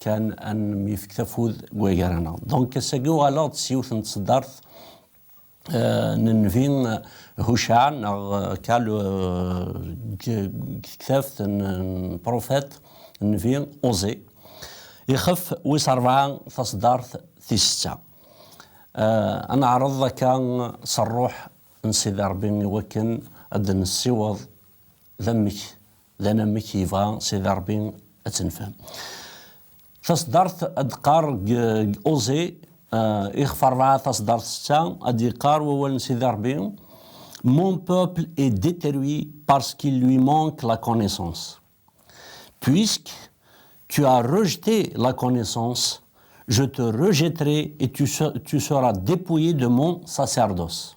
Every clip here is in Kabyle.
kan ad nemyefk tafud deg wagar-a. Donc ass-agi uɣaleɣ-d s yiwet n tseddart n nnbi Hucɛa neɣ Kal deg tektabt n Profet nnbi Oze, ixef wis rebɛa taseddart tis setta. Ad neɛreḍ akka s rruḥ n Sidi Rebbi iwakken ad d-nessiweḍ d amek D anamek yebɣa Sidi Ṛebbi ad tt-nefhem. Taṣeddart ad d-teqqar deg Oze, ixef ṛebɛa taṣeddart setta, ad d-yeqqar wawal n Sidi Ṛebbi, Mon peuple est deteruit parce qu'il lui manque la connaissance. Puisque tu as rejete la connaissance, je te rejetterai et tu seras depouille de mon sacerdoce.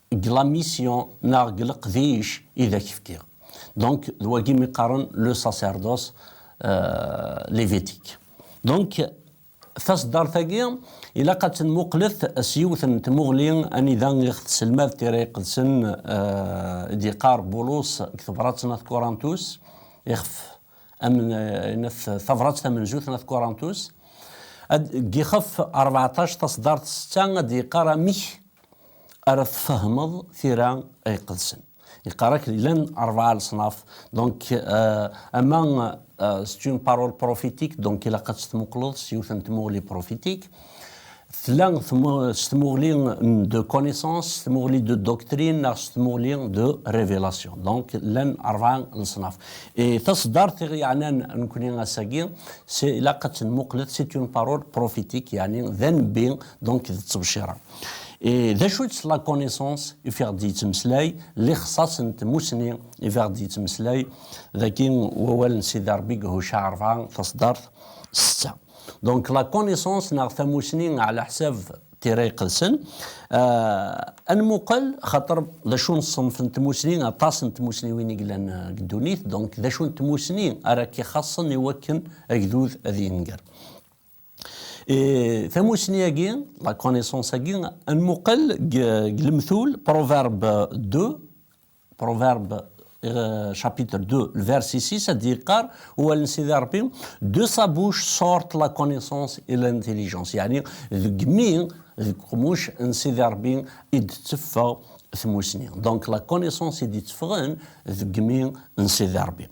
deg la mission neɣ deg leqdic i d ak-fkiɣ. Donc d wagi mi qqaren le sacerdoce lévitique. Donc taseddart-agi ilaq ad tt-nmuqlet s yiwet n tmuɣli anida i ɣ-tesselmad Tira Iqedsen i d-yeqqar Bulus deg tebrat n At Kurantus, ixef ines Tabrat tamenzut n At Kurantus, deg yixef rbeɛṭac taseddart setta ad d-yeqqar amek ara tfehmeḍ tira iqedsen. Yeqqar akken llan rebɛa leṣnaf, donc ama c'est une parole prophétique, donc ilaq ad tt-tmuqleḍ s yiwet n tmuɣli prophétique, tella s tmuɣli de connaissance, s tmuɣli de doctrine neɣ s tmuɣli de révélation. Donc llan rebɛa leṣnaf. Et taṣeddart i ɣ-yeɛnan nekni ass-agi, c'est ilaq ad tt-nmuqlet c'est une parole prophétique, yeɛni d anebbi, Donc, d ttebcira. Et d acu-tt la connaissance i fiɣ d-yettmeslay, lixsas n tmussni i fiɣ d-yettmeslay, daki wawal n Sidi Rebbi deg Hucca rebɛa, taṣeddart setta. Donc, la connaissance neɣ tamussni ɛla ḥsab Tira Iqedsen, ad nmuqel xaṭer d acu n ṣṣenf n tmussni, aṭas n tmussniwin i yellan deg ddunit, donc d acu n tmussni ara k-ixaṣṣen i wakken agdud ad yenger. Et tamussni agi, la connaissance agi, ad nmuqel deg lemtul Proverbe 2, Proverbe euh, chapitre 2, le verset 6, ad d-yeqqar wawal n Sidi Rebbi, de sa bouche sortent la connaissance et l'intelligence. Yani deg mi, deg qmuc n Sidi Rebbi i d-teffeɣ tmussni. Donc la connaissance i d-itteffɣen deg mi n Sidi Rebbi.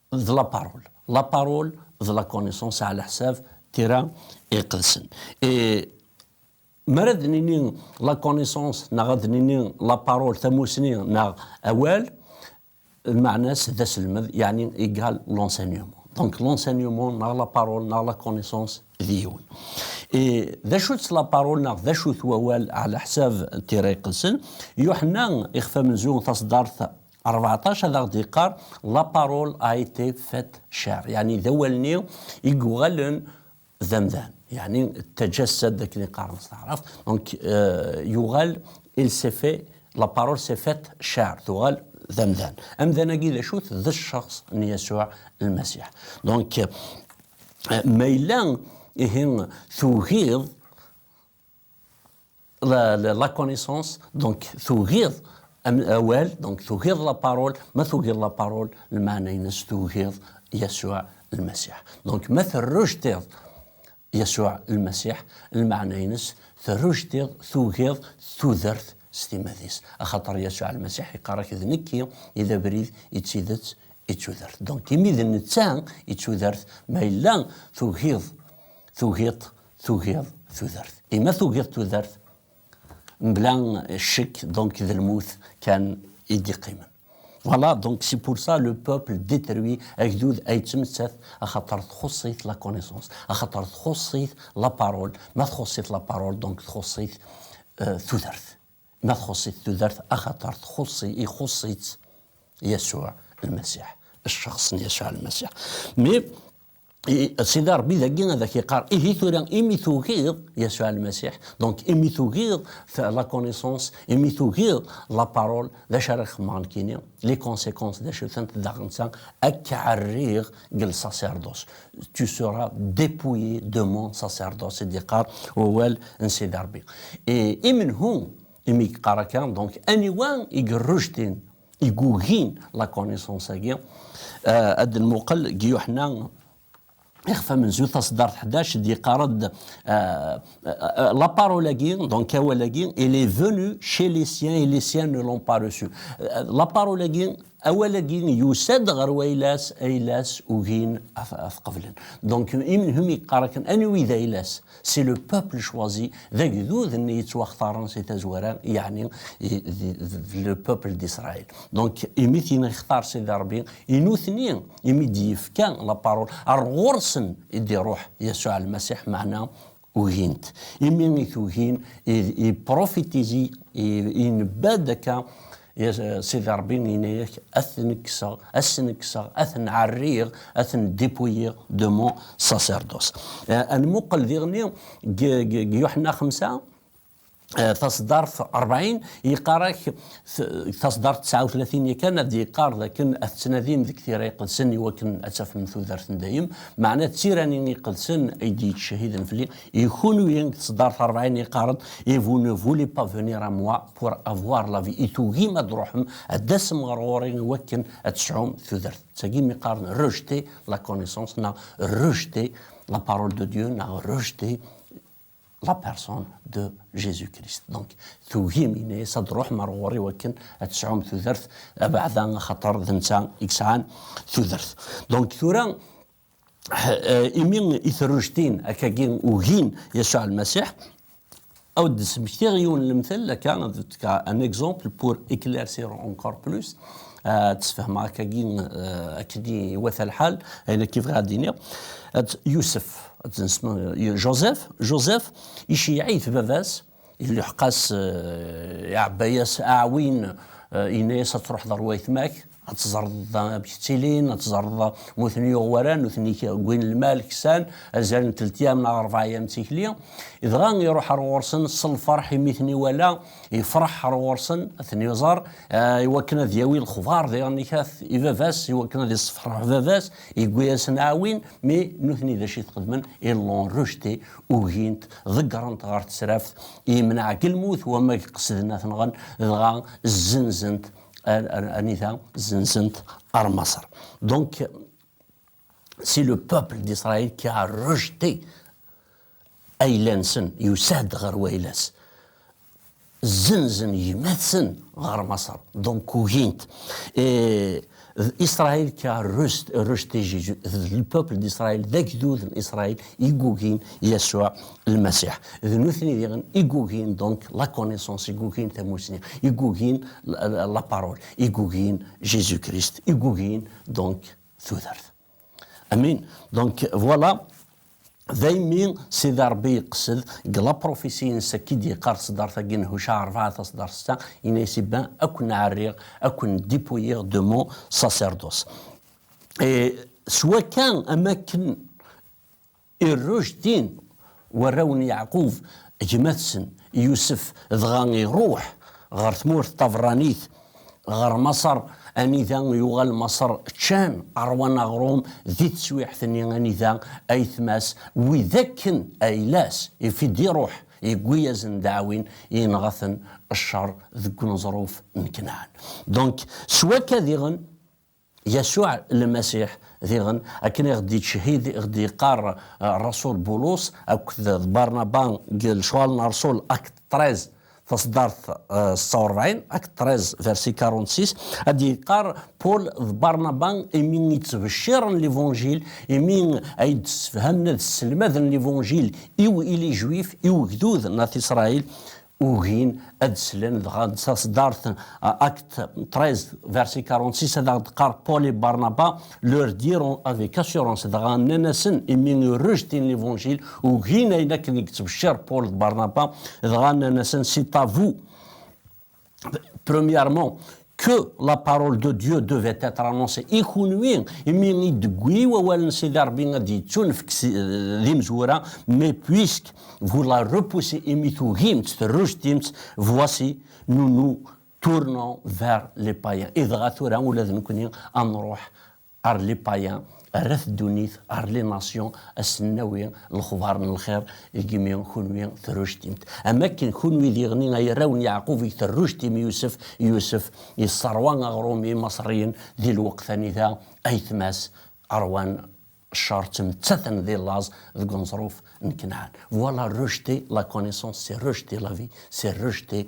D la parole. La parole d la connaissance ɛla ḥsab tira iqedsen. Et mi ara ad nini la connaissance neɣ ad nini la parole tamusni neɣ awal, lmeɛna-s d aselmed yeɛni égal l'enseignement. Donc l'enseignement neɣ la parole neɣ la connaissance d yiwen. Et d acu-tt la parole neɣ d acu-t wawal ɛla ḥsab tira iqedsen? Yuḥenna ixef amenzu taṣeddart 14 ad aɣ-d-yeqqar la parole a été faite chair yeɛni d awal-nni i yuɣalen d amdan yeɛni tajassad akken i qqaren s taɛrabt donc yuɣal il s'est fait la parole s'est faite chair tuɣal d amdan amdan-agi d acu-t d cceɣs n Yasuɛ lmasiḥ donc ma yella ihi tugiḍ la, la, la connaissance, donc tugiḍ awal, donc tugiḍ la parole, ma tugiḍ la parole, lmaɛna-ines tugiḍ Yasuɛ lmasiḥ. Donc ma terrujtiḍ Yasuɛ lmasiḥ, lmaɛna-ines terrujtiḍ, tugiḍ tudert s timmad-is. Axaṭer Yasuɛ lmasiḥ iqqar-ak d nekki i d abrid, i d tidet, i d tudert. Donc imi d netta i d tudert, ma yella tugiḍ, tugiḍ Tugiḍ tudert. Et ma tugiḍ tudert, mebla ccek, donc d lmut kan i d-iqqimen. Voilà, donc c'est pour ça le peuple détruit, agdud a yettmettat axaṭer txuṣṣ-it la connaissance, axaṭer txuṣṣ-it la parole, ma txuṣṣ-it la parole, donc txuṣṣ-it tudert. Ma txuṣṣ-it tudert axaṭer txuṣṣ-i, ixuṣṣ-itt Yasuɛ Lmasiḥ, cceɣs n Yasuɛ Lmasiḥ. Mais Sidi Rebbi dagi ad ak-iqqar ihi tura imi tugiḍ Yasuɛ Lmasiḥ, donc imi tugiḍ la connaissance, imi tugiḍ la parole, d acu ara xedmeɣ nekkini? Les conséquences d acu-tent daɣenta? Ad k-ɛerriɣ deg lsacerdos. Tu seras dépouillé de mon sacerdoce, i d-yeqqar wawal n Sidi Rebbi. Et i menhu imi yeqqar akka? Donc aniwa i yerrujtin igugin la connaissance-agi ad d-nmuqel deg Yuḥna ixef amenzu taṣeddart 11 d-yeqqar-d la parole-agi donc awal-agi il est venu chez les siens et les siens ne l'ont pas reçu la parole-agi awal-agi yusa-d ɣer wayla-s ayla-s ugin ad t-qeblen donc imenhum yeqqar akken anwi d ayla-s C'est le peuple choisi, d agdud n yettwaxtaren si tazwara, yeɛni d le peuple d'Israël. Donc, imi t-yextar Sidi Rebbi, i nutni imi d-yefka la parole, ar ɣur-sen i d-iruḥ Yasuɛ Lmasiḥ, meɛna ugin-t. Imi i t-ugin, il prophétise, inebba-d akka, Ya Sidi Rebbi, yenna-ak, ad ten-kkseɣ, ad sen-kkseɣ, ad ten-ɛerriɣ, ad ten-dépouiller de mon sacerdoce. Ad nmuqel diɣenni deg Yuḥenna Xemsa, taṣeddart rebɛin, yeqqar-ak, taṣeddart tesɛa u tlatin yakan, ad d-yeqqar dakken ad tettnadim deg tira iqedsen iwakken ad tafem tudert n dayem, meɛna d tira-nni iqedsen ay d-yettcehhiden fell-i. Et kunwi deg tesdart rebɛin yeqqaren et vous ne voulez pas venir à moi pour avoir la vie et tugim ad truḥem ad d-tasem ɣer ɣur-i i wakken ad tesɛum tudert. D tagi mi qqaren rejeter la connaissance neɣ rejeter la parole de Dieu neɣ rejeter la personne de Jésus-Christ. Donc tugim yenna-yas ad truḥem ɣer ɣur-i wakken ad tesɛum tudert abeɛda axaṭer d netta i yesɛan tudert. Donc tura imi i terrujtin akka-gi ugin Yasuɛ Lmasiḥ, a wen-d-smektiɣ yiwen n lemtel akka, un exemple pour éclaircir encore plus, ad d-sfehmeɣ akka-gi akken i iwata lḥal, ayen akka i bɣiɣ ad d-iniɣ, Yusef, Joseph, Joseph iceyyeɛ-it baba-s, Iluḥeq-as, iɛebba-yas aɛwin, yenna-yas ad truḥeḍ ar wayetma-k, ad teẓreḍ da amek ttilin, ad teẓreḍ ma ur ten-yuɣ wara, nutni wwin lmal, ksan, azal n teltyam neɣ rebɛeyam d tikli. Dɣa iruḥ ar ɣur-sen s lferḥ imi i ten-iwala, yefreḥ ar ɣur-sen ad ten-iẓer, iwakken ad yawi lexbar diɣen-ik at i baba-s, iwakken ad yessefreḥ baba-s, yewwi-yasen aɛwin, mais nutni d acu i t-xedmen, ils l'ont rejeté, ugint, ḍeggrent ɣer tesraft, yemneɛ deg lmut wamag qesden ad t-nɣen, dɣa zzenzent anita, zzenzent ar Maṣer. Donc, c'est le peuple d'Israël qui a rejeté ayla-nsen, yusa-d ɣer wayla-s. Zzenzen gma-tsen ɣer Maṣer, donc ugin-t. Et Israël qui a rejeté Jésus, le peuple d'Israël, d agdud n Israël i yugin Yasuɛ Lmasiḥ. D nutni diɣen i yugin donc la connaissance, i yugin tamussni, i yugin la parole, i yugin Jésus-Christ, i yugin donc tudert. Amin. Donc voilà, daymi sida Rebbi yeqsed deg la prophétie-nnes akka i d-yeqqar ṣeddart-agi n Huca rebɛa taṣeddart-a, yenna-yas i Ben, ad ken-ɛerriɣ, ad ken-dépouiller de mon sacerdoce. Et s wakka am akken Iruj tin, warraw n Yeɛqub, gma-tsen, Yusef, dɣa iruḥ ɣer tmurt taberranit, ɣer Maṣer, anida yuɣal Maṣer, ččan, ṛwan aɣṛum di teswiɛt-nni anida ayetma-s, wid akken ayla-s ifi-d iruḥ, yewwi-yazen ddeɛwin, yenɣa-ten cceṛ deg uneẓruf n Knaɛan. Donc, s wakka diɣen. Yasuɛ Lmasiḥ, diɣen, akken i ɣ-d-ittcehhid, i ɣ-d-yeqqar rrasul Bulus akked d Barnaba deg Lecɣal n Rrsul, Actes treize, taṣeddart setta urebɛin, Actes treize, verset quarante-six, a d-yeqqar Paul d Barnaba imi i ttbecciren Levanǧil, imi ay d-ssefhamen ad sselmaden Levanǧil i w-il Ijuif, i ugdud n At Isṛail, ugin ad slen dɣa d taṣeddart Acte 13 verset 46 ad aɣ-d-qqar Paul et Barnaba leur diront avec assurance dɣa nnan-asen imi rejetin l'évangile ugin ayen akken i yettbecciṛ Paul d Barnaba dɣa nnan-asen c'est à vous premièrement que la parole de Dieu devait être annoncée i kunwi imi i d-tewwi wawal n Sidi Rebbi ad d-yettunefk d imezwura mais puisque vous la repoussez imi tugimt terrujtimt voici nous nous tournons vers les païens i dɣa tura ula d nekkni ad nruḥ Ar les païens, Err-at ddunit, ar les nations, ad sen-nawi lexbar n lxir, lgmi kunwi terrujtimt. Am wakken kunwi d iɣni ay arraw n Yeɛqub i terrujtim Yusef, Yusef yesserwa aɣrum i Imaṣriyen di lweqt anida ayetma-s ṛwan cceṛ ttmettaten di laẓ deg uneẓruf n Kanɛan. Voilà rejeter la connaissance, c'est rejeter la vie, c'est rejeter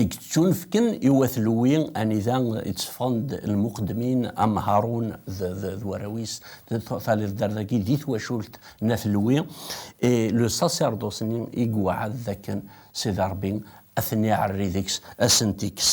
i yettunefken i wat Lewi, anida i tteffɣen-d lmuqeddmin am Harun d warraw-is, taliḍ-d ar dagi di twacult n at Lewi, et le sacerdoce-nni i yewɛed d akken Sidi Rebbi ad ten-iɛerri deg-s, ad asen-t-ikkes.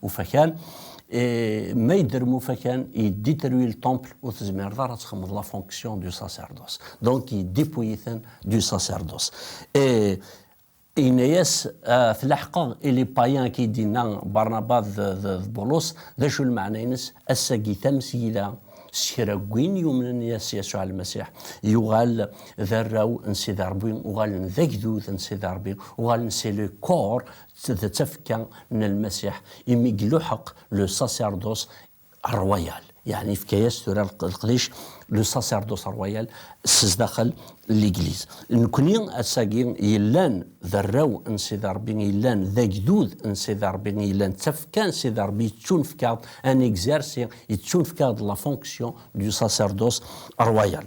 Ufakan, et ma yedder Mufakan, yeddi terwi le temple ur tezmireḍ ara ad txedmeḍ la fonction du sacerdoce. Donc yeddipuy-iten du sacerdoce. Et yenna-yas ah, tlaḥqeḍ et les païens qui d-yenna Barnaba d, d, d Bulus, d acu lmeɛna-ines? Ass-agi tamesgida s kra n win yumnen yas Yasuɛ Lmasiḥ, yuɣal d arraw n Sidi Ṛebbi, uɣalen d agdud n Sidi Ṛebbi, uɣalen c'est le corps D tafekka n Lmasiḥ imi iluḥeq le sacerdoce royal, yeɛni ifka-yas tura leqdic le sacerdoce royal s zdaxel n Legliz. Nekkni ass-agi yellan d arraw n Sidi Rebbi, yellan d agdud n Sidi Rebbi, yellan d tafekka n Sidi Rebbi, yettunefk-aɣ-d ad n-exercer, yettunefk-aɣ-d la fonction du sacerdoce royal.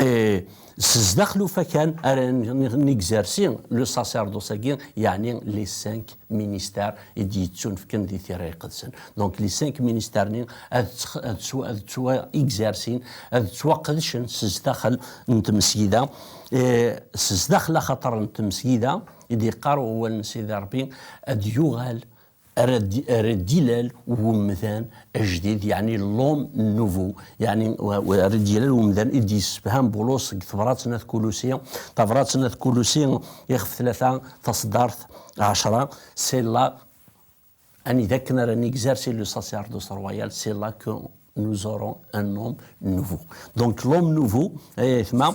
Et Sdaxel ufakan ara negzersi le sacerdoce agi yeɛni les cinq ministères i d-yettunefken di tira iqedsen. Donc les cinq ministères ni ad ttwa-exercin, ad ttwaqedcen sdaxel n tmesgida. Sdaxel axater n tmesgida i d-yeqqar wawal n Sidi Rebbi ad yuɣal Err-d ilal umdan ajdid, yeɛni l'homme nouveau, yeɛni err-d ilal umdan i d-yessefham Bulus deg tebrat n At Kulusi, tabrat n At Kulusi ixef tlata, taṣeddart ɛecra, C'est là, anida akken ara n-exercer le sacerdoce royal, c'est là que nous aurons un homme nouveau. Donc l'homme nouveau, ay ayetma,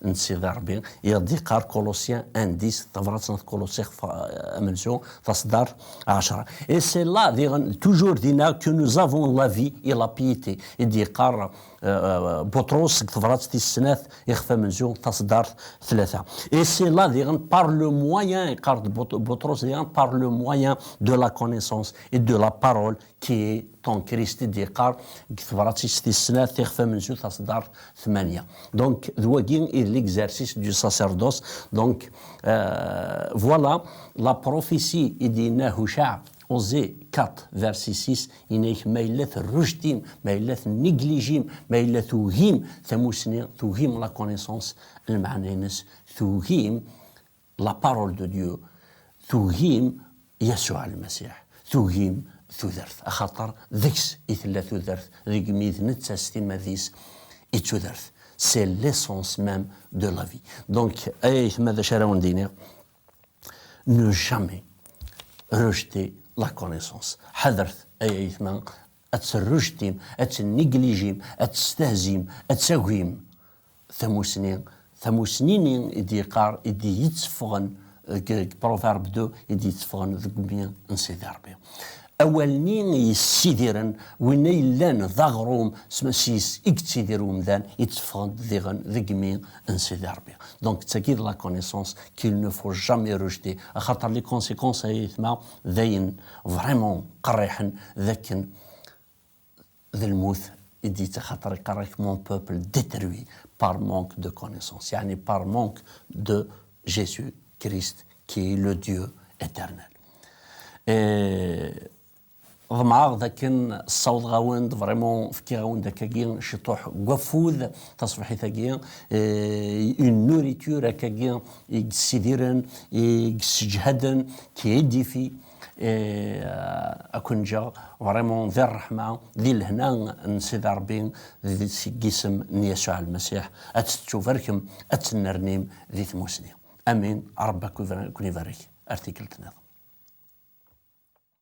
n Sidi Ṛebbi, i ɣ-d-yeqqar Colossiens 1, 10, Tabrat n At Kuluṣi ɣef amenzu, taṣeddart, 10. Et c'est là, diɣen, toujours dinna, que nous avons la vie et la piété, i d-yeqqar Buṭrus deg Tebrat tis snat i ɣef amenzu, taṣeddart, tlata. Et c'est là, diɣen, par le moyen, yeqqar-d Buṭrus, diɣen, par le moyen de la connaissance et de la parole, Ki Tom Christie d-yeqqar deg tebrat-is tis snat, Tixef amenzu, taṣeddart tmanya. Donc, d wagi i d l'exercice du sacerdoce. Donc, voilà la prophétie i d-yenna Hucaɛ, Osée 4, verset 6, yenna-ak ma yella terrujt-im, ma yella tenniglijim, ma yella tugim tamussni, tugim la connaissance, lmeɛna-ines, tugim La parole de Dieu tugim Yasuɛ Lmasiḥ, tugim tudert, axaṭer deg-s i tella tudert, deg-mi d netta s timmad-is i d tudert, c'est l'essence même de la vie. Donc, ay ayetma d acu ara awen-d-iniɣ, ne jamais rejeter la connaissance, ḥadret ay ayetma ad tt-rrejtim, ad tt-neglijim, ad tt-stehzim, ad tagim, Tamussni, tamussni-nni i d-yeqqar, i d-yetteffɣen deg Proverbe de, i d-yetteffɣen deg imi n Sidi Rebbi. Awal-nni yessidiren winna yellan d aɣrum, sys i yettidir umdan, itteffɣen-d diɣen deg imi n Sidi Rebbi. Donc d tagi d la connaissance qu'il ne faut jamais rejeter, axaṭer les conséquences ay ayetma d ayen vraiment qerriḥen, d akken, d lmut i d-yettaxaṭer iqerr-ak mon peuple detruit par manque de connaissance yeɛni par manque de Jésus Christ qui est le Dieu éternel. Ḍemɛeɣ d akken ssawḍeɣ-awen-d, vraiment fkiɣ-awen-d akkagi ciṭuḥ n waffud taṣebḥit-agi, une nourriture akkagi i yessidiren, i yesseǧhaden, qui édifie, Akun ǧǧeɣ vraiment di ṛṛeḥma, di lehna n Sidi Ṛebbi, seg isem n Yasuɛ Lmasiḥ, ad tettubarkem, ad tennernim di tmusni. Amin. Ṛebbi a ken-ibarek ar tikkelt niḍen.